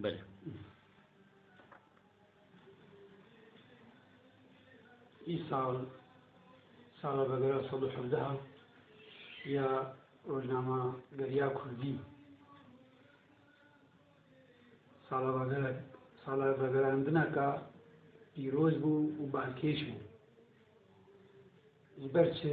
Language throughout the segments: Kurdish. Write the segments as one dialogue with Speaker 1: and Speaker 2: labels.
Speaker 1: Belê. Îsal sala vegera sed û hevdeha ya rojnama geriya Kurdî sala vegera sala vegerandineka pîroz bû û balkêş bû. Ji ber çi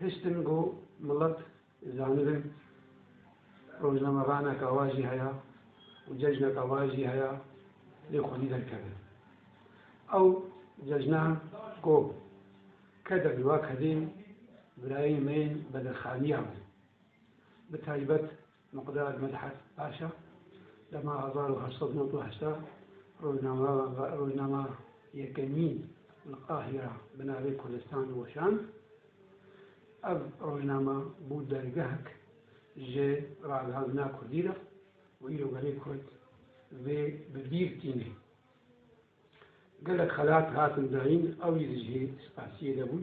Speaker 1: Hiştin ku milet zanibin rojnamevaneka wa jî heye û cejneka wa jî heye lê xwedî derkeve. Ew cejna ku keder li wa kevê birayên me yên bedirxaniya me bi taybet Miqdad Medhat Paşa dema hezar û heşt sed û nod û heşta rojnama yekemî li Qahîra bi navê Kurdistan weşand, ev rojnama bû dergehek ji ragihandina kurdî re û îro gelê kurd vê bi bîr tîne. Gelek xelat hatin dayîn, ew jî di cihê spasiyê de bûn.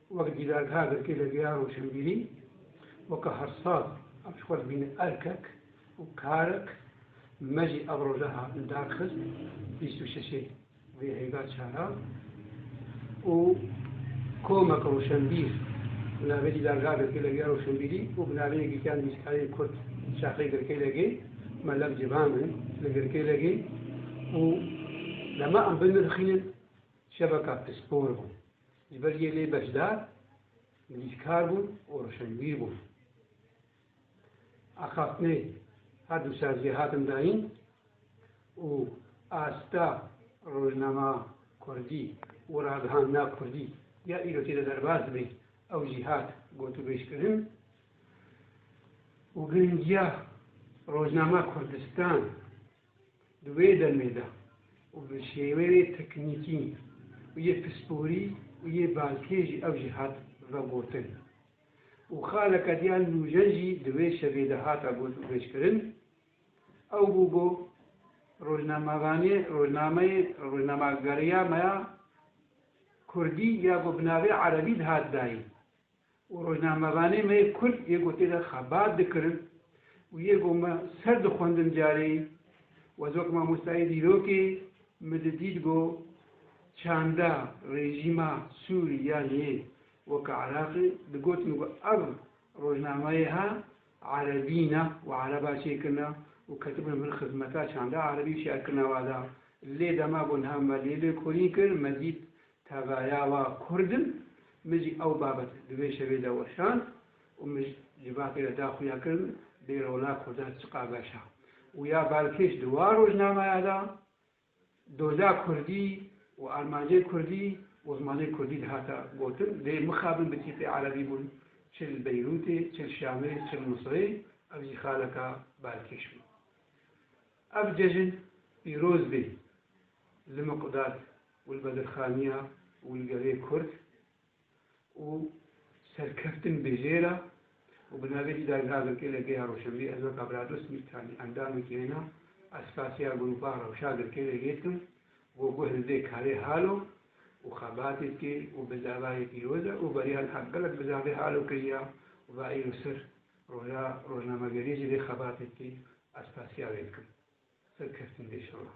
Speaker 1: Wek dîdargeha girkê Legeya Rojhimbîrî weke hersaz ev ji xwe dibîne erkek û karek me jî ev roja hatin darxist bîst û şeşê vê hêga çaran û komek roşenbîr bi navê Dîdargeha Girkê Legeya Rojhimbîrî û bi navê Yekîtiya Nivîskarên Kurd di Şaxê Girkê Legê me lev civan in li Girkê Legê û dema em binirxînin şeveka pispor bû Li ber gelê beşdar mirîşkar bûn û rişenbîr bûn. Axaftinê her du ser jê hatin dayîn û asta rojnama kurdî û ragihandina kurdî ya îro tê de derbas dibe, ew jî hat gotûbêjkirin û giringiya rojnama Kurdistan, Di wê demê de û bi şêweyê teknîkî û yê pisporî û yê balkê jî ew jî hat vegotin û xaleke diya nûjen jî di wê şevê de hate got û bêjkirin, ew bû ku rojnamevanê rojnameyê rojnamegeriya me ya kurdî ya ku bi navê erebî dihat dayîn. û rojnamevanê me yê Kurd yê gotê de xebat dikirin û yê go me ser dixwendin careyî wez wek mamostayê dîrokê min didît go çanda rejîma Sûrî yan yê weke Iraqî digotin go ev rojnameyê ha Erebî ne û Ereba çêkirina û ketibin bin xizmeta çanda Erebî û şerkirina wada lê dema go niha me lê lêkolîn kir me dît Tevaya wa kurd im, min jî ew babet di vê şevê de weşand û min civakê de da xuya kir min bê rola kurdan çiqa beş a. Û ya balkêş di wa rojnamaya de doza kurdî û armancên kurdî û zimanên kurdî dihata gotin, lê mixabin bi tîpê erebî bûn çi li Beyrûtê, çi li Şamê, çi li Misirê, ev jî xaleka balkêş bû. Ev cejin pîroz bê li Miqdad. û li bedirxaniya û li gelê Kurd û serkeftin bi hêra û bi navê jî dagirave ke li geya Roşenbîr ez weka Birados Mîrtanî endamekî wêna esasîya grûpa Rewşa Girkê de yê dikim ku guh li vê karê hal o û xebatê dike û bi davayê pîroz e û beriyan heq gelek bi zafê hal o kiriya û va îro ser roja rojnamegerî jî vê xebatê dike esasîya wê dikim serkeftin bi îşallah.